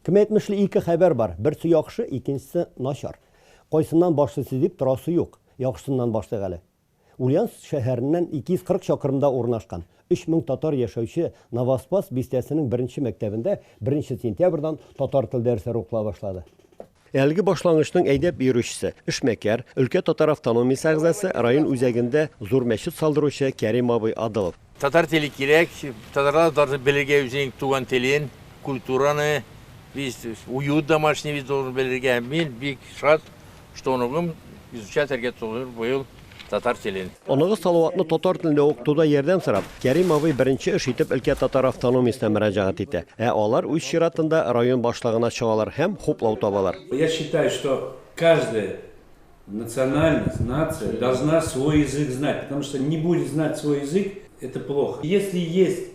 Кем әйтмешли, ике хәбәр бар, берсе яхшы, икенчесе начар. Кайсыннан башлыйсы дип торасы юк. Яхшысыннан башлыйк әле. Ульяновск шәһәреннән 240 чакрымда урнашкан, 3000 татар яшәүче Новоспасс бистәсенең беренче мәктәбендә беренче сентябрьдән татар тел дәресләре укыла башлады. Әлеге башлангычның әйдәп йөрүчесе, эшмәкәр, өлкә татар автономиясе әгъзасы, район үзәгендә зур мәчет салдыручы Кәрим абый Адылов. Татар теле кирәк, татарлар да должны белергә үзенең туган телен, культураны, весь уют домашний весь должен белергә. Мин бик шат, что оныгым изучать оргиатулыр быел. Татар телен. Оныгыз Салаватны татар телендә укытуда ярдәм сорап, Кәрим абый беренче эш итеп өлкә татар автономиясенә мөрәҗәгать итә. Ә алар үз чиратында район башлыгына чыгалар һәм хуплау табалар. Я считаю, что каждая национальность, нация должна свой язык знать, потому что не будет знать свой язык, это плохо. Если есть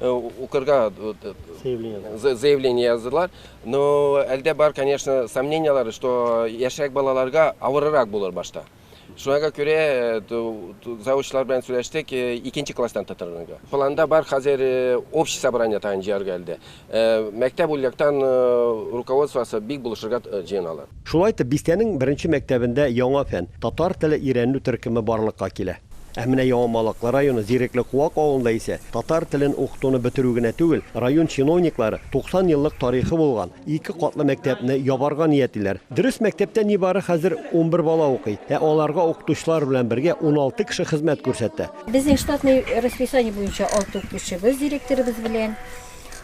укырга заявление яздылар. Но әлдә бар, конечно, сомненияләре, что яшьрәк балаларга авырырак булыр башта. Шуңа күрә завучлар белән сөйләштек, икенче класстан тотырга. Планда бар хәзер общий собрание тагын җыярга әлдә. Мәктәп ульяктан руководствосы бик булышырга җыеналар. Шулай итеп, бистәнең беренче мәктәбендә яңа фән, татар теле өйрәнү төркеме барлыкка килә. Ә менә Яңа Малык районы Зирекле Куак авылында исә татар телен укытуны бетерү генә түгел, район чиновниклары 90 еллык тарихы булган ике катлы мәктәпне ябарга ниятлиләр. Дөрес, мәктәптә нибары хәзер унбер бала укый, ә аларга укытучылар белән бергә уналты кеше хезмәт күрсәтә. Безнең штатный расписание буенча алты укытучыбыз директорыбыз белән.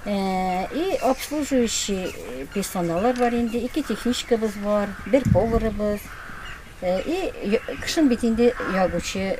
И обслуживающий персоналлар бар инде, ике техничкабыз бар, бер поварыбыз. И кышын бит инде ягучы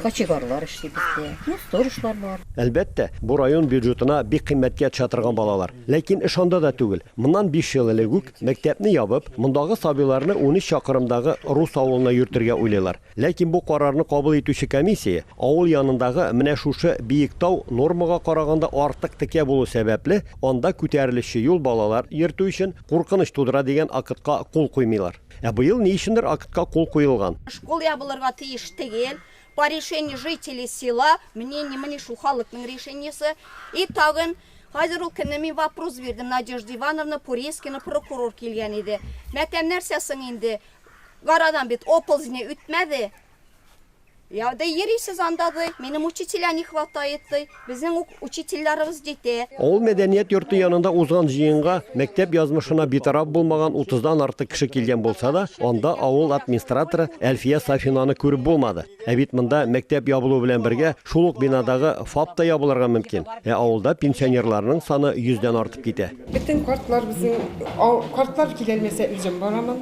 кочегарлар эшли бездә. Ну, сторожлар бар. Әлбәттә, бу район бюджетына бик кыйммәткә төшә торган балалар. Ләкин эш анда да түгел. Моннан биш ел элек үк, мәктәпне ябып, мондагы сабыйларны унөч чакрымдагы рус авылына йөртергә уйлыйлар. Ләкин бу карарны кабул итүче комиссия, авыл янындагы менә шушы Биектау нормага караганда артык текә булу сәбәпле, анда күтәрелешче юл балалар йөртү өчен куркыныч тудыра дигән актка кул куймыйлар. Ә быел ни өчендер актка кул куелган. Школ ябылырга тиеш тегел, по решению жителей села, мнение, мени шул халыкның решениесе. И тагын, хәзер ул кемне мин вопрос бирдем, Надежда Ивановна Пурейскина прокурор килгән иде. Мәтәм нәрсә соң инде, Гарадан бит оползни үтмәде. Я, да йөрисез анда, ди. Минем учителя не хватает, ди. Безнең ук учительләребез җитә. Авыл мәдәният йорты янында узган җыенга мәктәп язмышына битараф булмаган утыздан артык кеше килгән булса да, анда авыл администраторы Әлфия Сафинаны күреп булмады. Ә бит монда мәктәп ябылу белән бергә шул ук бинадагы ФАП та ябылырга мөмкин. Ә авылда пенсионерларның саны йөздән артып китә. Бөтен картлар безнең, картлар киләлмәсә үзем барамын.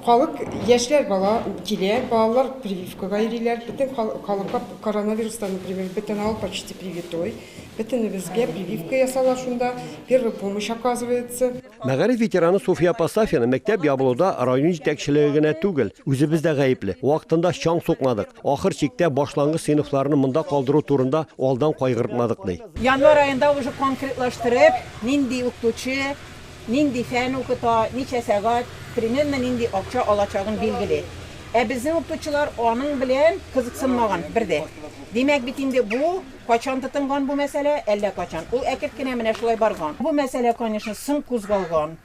Халык, яшьләр бала килә, балалар прививкага йөриләр. Бөтен халыкка коронавирустан, например, бөтен авыл почти привитой. Бөтенебезгә прививка ясала шунда, первая помощь оказывается. Мәгариф ветераны Суфия апа Сафина мәктәп ябылуда район җитәкчелеге генә түгел, үзебез дә гаепле. Вакытында чаң сукмадык. Ахыр чиктә, башлангыч сыйныфларны монда калдыру турында алдан кайгыртмадык, ди. Январь аенда уже конкретлаштырып, нинди укытучы, нинди фән укыта, ничә сәгать, примерно нинди акча алачагын билгели. Ә безнең укытучылар аның белән кызыксынмаган бер дә. Димәк бит инде бу кайчан тотынган бу мәсьәлә? Әллә кайчан. Ул әкерт кенә менә шулай барган. Бу мәсьәлә, конечно, соң кузгалган.